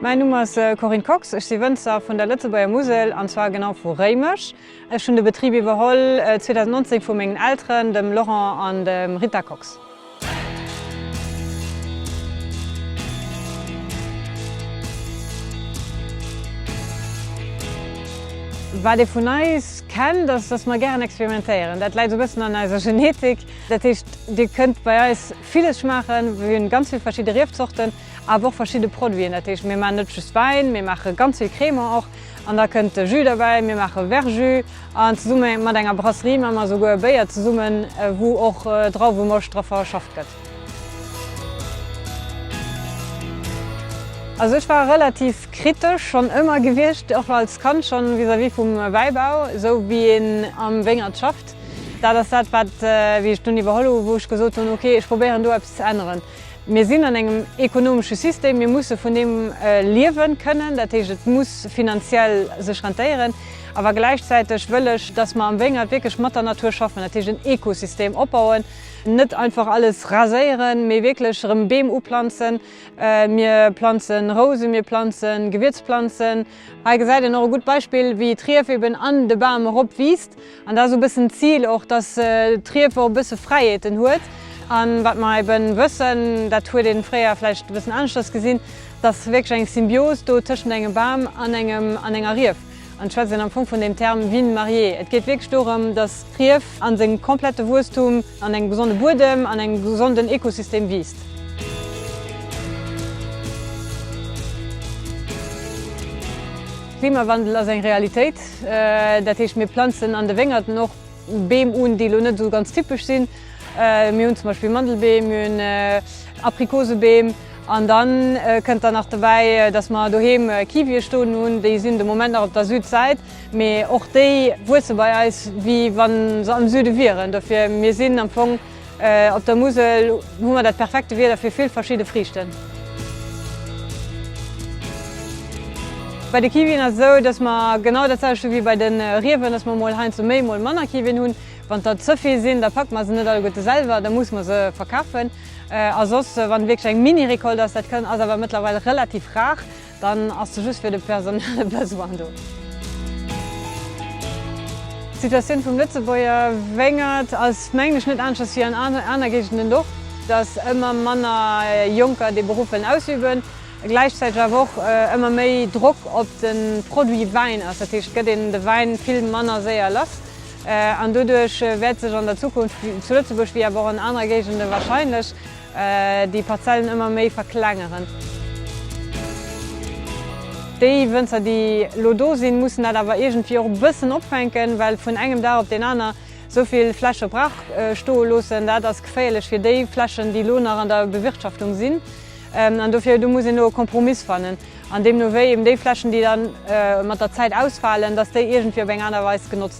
Mäin Numm ass Corinne Kox, ech si Wënzer vun der Lëtzebuerger Musel, an zwar genau vu Réimech. Ech hunn de Betrib iwwerholl 2019 vu mengen Elteren, dem Laurent an dem Rita Kox. Wat ee vun eis kennt, ass, dass mer gären experimentéieren. Dat läit esou e bëssen an eiser Genetik. Dat heescht, Dir kënnt bei eis villes schmaachen. Mir hunn ganz vill verschidde Riefzorten, awer och verschidde Produiten. Dat heescht, mir maachen net just Wäin, mir maache ganz vill Crémant och. An da kënnt de Jus derbäi, mir maache Verjus. An zesumme mat enger Brasserie maache mer esouguer e Béier zesummen, wou och Drauwemoscht dra verschafft gëtt. Also ech war relativ kritesch schonn ëmmer gewiescht, och als Kand schonn, vis-à-vis vum Wäibau, esou wéi een am Wéngert schafft. Dat ass dat, wat, wéi ech dunn iwwerholl hu wou ech gesot hunn, okay, ech probéieren do eppes ze änneren. Mir sinn an engem ekonomesche System, mir musse vun deem liewe kënnen, dat heescht et muss finanziell sech rentéieren, awer gläichzäiteg wëll ech, datt mer am Wéngert wierklech mat der Natur schaffen, dat heescht en Ekosystem opbauen, net einfach alles raséieren, mee wierklech erëm Beem uplanzen, mir planze Rousen, mir planze Gewierzplanzen. Hei gesäit een och e gutt Beispill, wéi d'Rief eben an de Bam erop wiisst An dat ass e bëssen d'Zil och, dass d'Rief och e bësse Fräiheeten huet. A wat mer ebe wëssen, dat huet ee fréier vläicht e bëssen aneschters gesinn, dass wierklech eng Symbios do tëschent engem Bam an enger Rief an ech schwätzen am Fong vun deem Term vignes mariées. Et geet wierklech dorëm, dass d'Rief a sengem komplette Wuesstum an engem gesonde Buedem an engem gesonden Ekosystem wiisst. Klimawandel ass eng Realitéit. Dat heescht, mir planzen an de Wéngerten och Beem un, déi elo net esou ganz typesch sinn. Mir hunn zum Beispill Mandelbeem, mir hunn Aprikosebeem an da kënnt dann nach dobäi, datt mer doheem Kiwie stoen hunn. Déi sinn de Moment nach op der Südsäit, mee och déi wuesse bei eis, wéi wa se am Süde wieren. Dofir mir sinn am Fong Op der Musel hu mer dat perfekte Wieder fir vill verschidde Friichten. Bei de Kiwien ass et esou, dass mer genau dat selwecht hu wéi bei de Riewen, dass mer mol heiansdo méi, mol manner Kiwien hunn. Wann der ze vill sinn, da packe mer se net alleguerte selwer, da muss mer se verkafen. A soss, wann wierklech eng Mini-Récolte ass, dat ass awer mëttlerweil relativ rar, Dann ass se just fir de personelle Besoin do. D'Situatioun vum Lëtzebuerger Wéngert ass, mengen ech, net aneschters wéi an aner Géigenden och, dass ëmmer manner Jonker dee Beruff wëllen ausüben, gläichzäiteg awer och ëmmer méi Drock op de Produit Wäin ass. Dat heescht, et gëtt een de Wäin vill manner séier lass an doduerch wäert sech an der Zukunft zu Lëtzebuerg, wéi awer och an anere Géigende warscheinlech, déi Parzellen ëmmer méi verklengeren. Déi Wënzer, déi elo do sinn, mussen dat awer iergendwéi och e bëssen opfänken, well vun engem Dag op deen aner esou vill Fläche brach stoe loossen, dat ass geféierlech fir déi Flächen, déi elo nach an der Bewirtschaftung sinn. An dofir, do muss een elo e Kompromiss fannen an deemno wéi eben déi Flächen, déi da mat der Zäit ausfalen, datt déi iergendwéi op eng aner Weis genotzt.